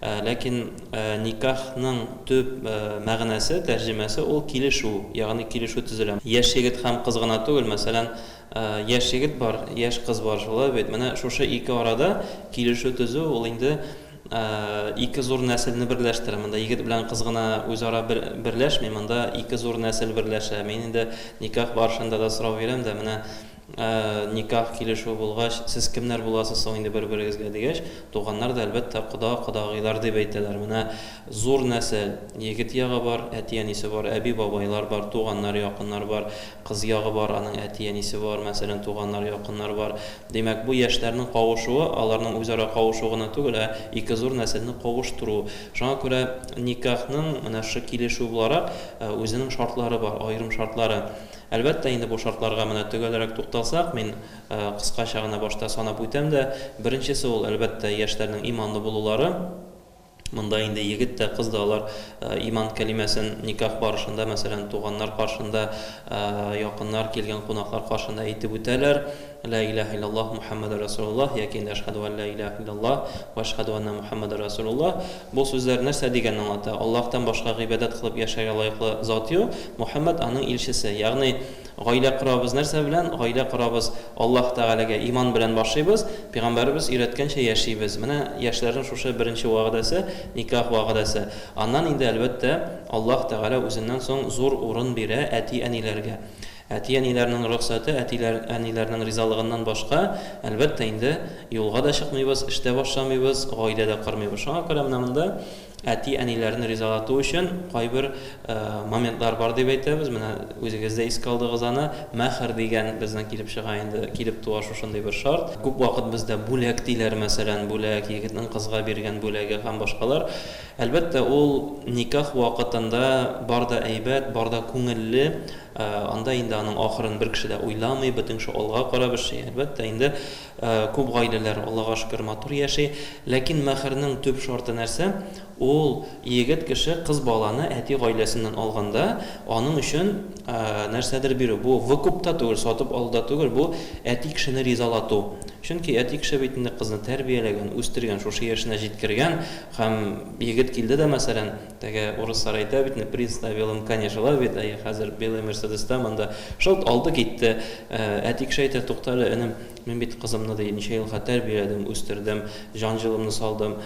Ләкин никахның төп мәгънәсе, тәрҗемәсе ул килешү, ягъни килешү төзелә. Яшь егет һәм кыз гына түгел, мәсәлән, яшь егет бар, яшь кыз бар, шулай бит? Менә шушы ике арада килешү төзү ул инде ике зур нәселне берләштерә. Монда егет белән кыз гына үзара берләшми, монда ике зур нәсел берләшә. Мин инде никах барышында да сорау бирәм дә, менә Ә никах килешүе булгач, сез кемнәр буласыз соң инде бер-берегезгә, дигәч, туганнар да, әлбәттә, кода, кодагыйлар дип әйтәләр. Менә зур нәсел, егет ягы бар, әти-әнисе бар, әби-бабайлар бар, туганнар, якыннар бар, кыз ягы бар, аның әти-әнисе бар, мәсәлән, туганнар, якыннар бар. Димәк, бу яшьләрнең кавышуы, аларның үзара кавышуы гына түгел, ә ике зур нәселне кавыштыру. Шуңа күрә никахның менә шушы килешү буларак үзенең шартлары бар, аерым шартлары. Әлбәттә, инде бу шартларга менә төгәлрәк тукталсак, мин кыскача гына башта санап үтәм дә, беренчесе ул, әлбәттә, яшьләрнең иманлы булулары. Монда инде егет тә, кыз да алар иман кәлимәсен никах барышында, мәсәлән, туганнар каршында, якыннар, килгән кунаклар каршында әйтеп үтәләр, Лә илаһә илляллаһ Мухәммәдүр рәсүлуллаһ яки инде Әшһадү ан лә илаһә илляллаһ вә әшһадү әннә Мухәммәдүр рәсүлуллаһ. Бу сүзләр нәрсә дигәнне аңлата? Аллаһтан башка гыйбадәт кылып яшәргә лаеклы зат юк, Мөхәммәд аның илчесе. Ягъни, гаилә корабыз нәрсә белән? Гаилә корабыз Аллаһ Тәгаләгә иман белән башлыйбыз, пигамбәребез өйрәткәнчә яшибез. Менә яшьләрнең шушы беренче вәгъдәсе, никах вәгъдәсе. Аннан инде, әлбәттә, Аллаһ Тәгалә үзеннән соң зур урын бирә әти-әниләргә. Әти-әниләрнең рөхсәте, әтиләр, әниләрнең ризалыгыннан башка, әлбәттә инде, юлга да чыкмыйбыз, эш тә башламыйбыз, гаилә дә кормыйбыз. Шуңа күрә менә монда әти-әниләрне ризалату өчен кайбер моментлар бар дип әйтәбез. Менә үзегез дә искә алдыгыз аны. Мәһр дигән безнең килеп чыга инде, килеп туа шушындый бер шарт. Күп вакыт бездә бүләк диләр, мәсәлән, бүләк, егетнең кызга биргән бүләге һәм башкалар. Әлбәттә, ул никах вакытында бар да әйбәт, бар да күңелле, анда инде аның ахырын бер кеше дә уйламый, бөтен кеше алга карап эшли. Әлбәттә, инде күп гаиләләр, Аллага шөкер, матур яши. Ләкин мәһәрнең төп шарты нәрсә? Ул егет кеше кыз баланы әти гаиләсеннән алганда, аның өчен нәрсәдер бирү. Бу выкуп та түгел, сатып алу да түгел, бу әти кешене ризалату. Чөнки әти кеше бит инде кызны тәрбияләгән, үстергән, шушы яшенә җиткергән, Һәм егет килде дә, мәсәлән, теге урыслар әйтә бит, не приставилым коня желавит, әйе, хәзер белый мерседеста монда, шылт алды китте. Ә әти кеше әйтә, туктале, энем, мин бит кызымны, ди, ничә елга тәрбияләдем, үстердем, җан җылымны салдым,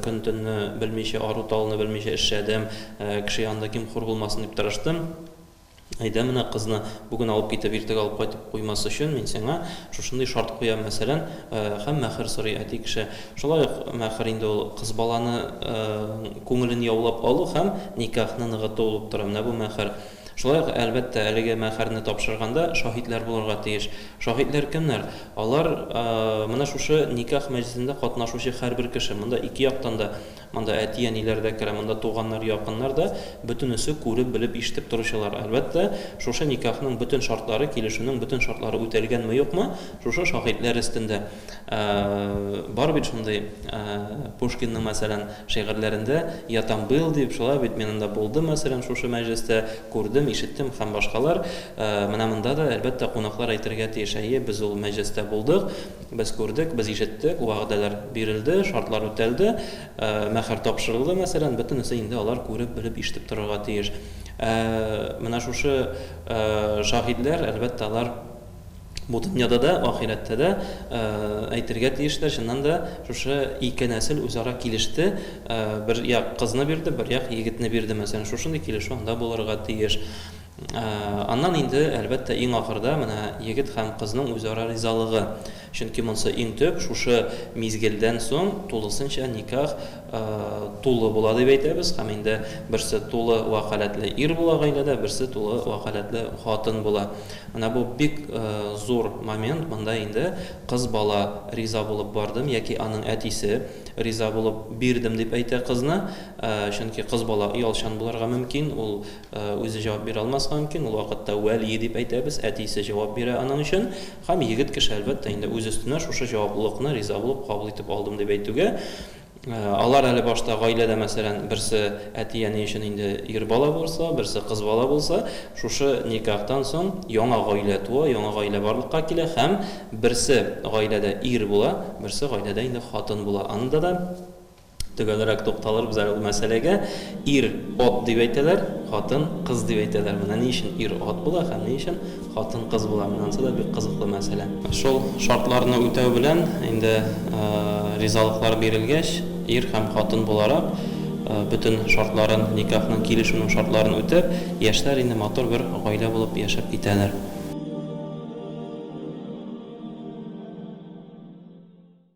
көн-төнне белмичә, ару-талуны белмичә эшләдем, кеше янында ким-хур булмасын дип тырыштым. Әйдә, менә кызны бүген алып китеп, иртәгә алып кайтып куймас өчен мин сиңа шушындый шарт куям, мәсәлән, һәм мәхер сорый әти кеше. Шулай ук мәхер инде ул кыз баланы ның күңелен яулап алу һәм никахны ныгыту булып тора. Менә бу мәхер. Шулай ук, әлбәттә, әлеге мәхерне тапшырганда шаһитләр булырга тиеш. Шаһитләр кемнәр? Алар, менә шушы никах мәҗлесендә катнашучы һәрбер кеше. Монда ике яктан да Монда әти-әниләр дә керә, монда туганнар, якыннар да, бөтенесе күреп, белеп, ишетеп торучылар. Әлбәттә, шушы никахның бөтен шартлары, килешүнең бөтен шартлары үтәлгәнме-юкмы, шушы шаһитләр өстендә. Бар бит шундый, Пушкинның, мәсәлән, шигырьләрендә, Я там был, дип, шулай бит, мин анда булдым, мәсәлән, шушы мәҗлестә, күрдем, ишеттем һәм башкалар. Менә монда да, әлбәттә, кунаклар әйтергә тиеш, әйе, без ул мәҗлестә булдык. Без күрдек, без ишеттек, вәгъдәләр бирелде, шартлар үтәлде, мәһәр тапшырылды, мәсәлән, бөтенесе инде алар күреп, белеп, ишетеп торырга тиеш. Ә менә шушы шаһидләр, әлбәттә, алар бу дөньяда да, ахирәттә дә әйтергә тиешләр, чыннан да, шушы ике нәсел үзара килеште, бер як кызны бирде, бер як егетне бирде, мәсәлән, шушындый килешү анда булырга тиеш. Аннан инде, әлбәттә, иң ахырда менә егет һәм кызның үзара ризалыгы. Чөнки монсы иң төп, шушы мизгелдән соң тулысынча никах тулы була дип әйтәбез һәм инде берсе тулы вәкаләтле ир була гаиләдә, берсе тулы вәкаләтле хатын була. Менә бу бик зур момент, монда инде кыз бала риза булып бардым яки аның әтисе риза булып бирдем дип әйтә кызны, чөнки кыз бала оялчан булырга мөмкин, ул Үзе җавап бирә алмаска мөмкин, ул вакытта вәлие дип әйтәбез, әтисе җавап бирә аның өчен. Һәм егет кеше, әлбәттә инде, үз өстенә шушы җаваплылыкны риза булып кабул итеп алдым дип әйтүгә, алар әле башта гаиләдә, мәсәлән, берсе әти-әни өчен инде ир бала булса, берсе кыз бала булса, шушы никахтан соң яңа гаилә туа, яңа гаилә барлыкка килә һәм берсе гаиләдә ир була, берсе гаиләдә инде хатын була. Анда да. Төгәлрәк тукталырбыз әле ул мәсьәләгә. Ир, ат дип әйтәләр, хатын, кыз дип әйтәләр. Менә ни өчен ир ат була һәм ни өчен хатын кыз була, менә анысы да бик кызыклы мәсьәлә. Шул шартларны үтәү белән, инде ризалыклар бирелгәч, ир һәм хатын буларак, бөтен шартларын, никахның, килешүнең шартларын үтәп, яшьләр инде матур бер гаилә булып яшәп китәләр.